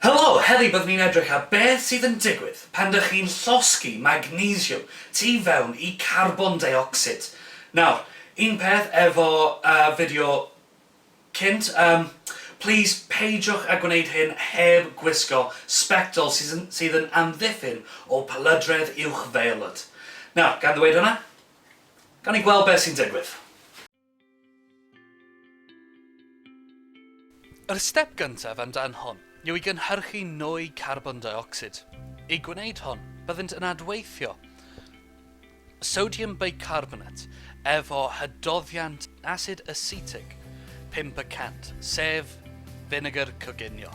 Helo! Heddi byddwn ni'n edrych ar beth sydd yn digwydd pan dych chi'n llosgi magnesiwm tu fewn i carbon deuocsid. Nawr, un peth efo yy fideo cynt, yym plîs peidiwch â gwneud hyn heb gwisgo sbectol sydd yn sydd yn amddiffyn o palydredd uwchfeolwd. Nawr, gan ddweud hwnna, gawn ni gweld beth sy'n digwydd. Yr step gyntaf am dan hon yw i gynhyrchu nwy carbon deuocsid. I gwneud hon, byddent yn adweithio sodium bicarbonate efo hydoddiant asid asetig pump y cant, sef finegr coginio.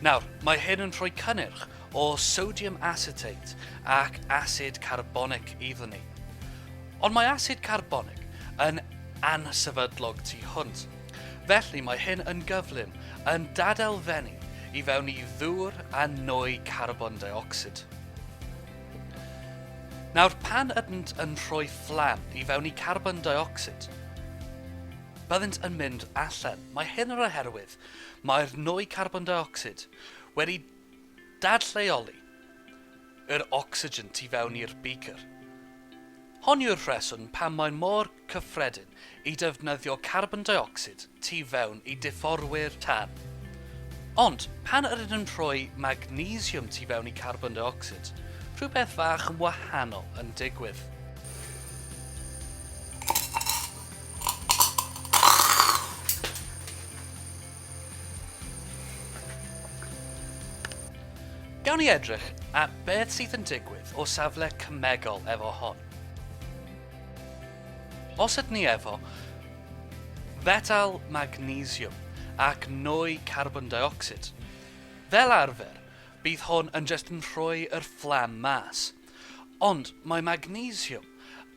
Nawr, mae hyn yn rhoi cynnyrch o sodium acetate ac asid carbonic iddon ni. Ond mae asid carbonic yn ansefydlog tu hwnt, felly mae hyn yn gyflym yn dadelfennu i fewn i ddŵr a nwy carbon deuocsid. Nawr, pan ydynt yn rhoi fflam i fewn i carbon deuocsid, byddent yn mynd allan. Mae hyn yr oherwydd Mae'r nwy carbon deuocsid wedi dadlleoli yr ocsigen tu fewn i'r beaker. Hon yw'r rheswm pam mae mor cyffredin i defnyddio carbon deuocsid tu fewn i difforwyr tân. Ond, pan yr ydym rhoi magnesiwm tu fewn i carbon deuocsid, rhywbeth fach yn wahanol yn digwydd. Gawn ni edrych at beth sydd yn digwydd o safle cymegol efo hon. Os ydyn ni efo fetal magnesiwm ac nwy carbon dioxid, fel arfer, bydd hwn yn just yn rhoi yr fflam mas. Ond mae magnesiwm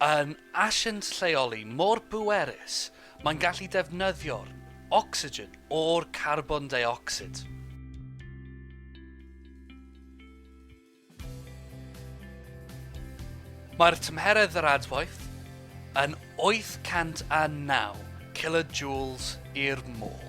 yn asiant lleoli mor bwerus mae'n gallu defnyddio'r ocsigen o'r carbon deuocsid. Mae'r tymheredd yr adwaith yn 809 kilojoules i'r môl.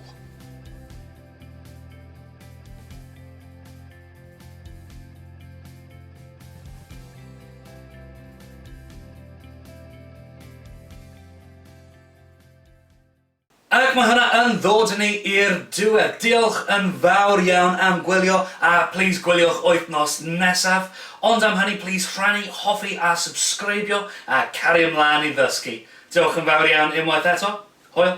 Ac mae hwnna yn ddod ni i'r diwedd. Diolch yn fawr iawn am gwylio a please gwyliwch wythnos nesaf. Ond am hynny please rhannu, hoffi a subscribio a cario mlaen i ddysgu. Diolch yn fawr iawn unwaith eto. Hwyl!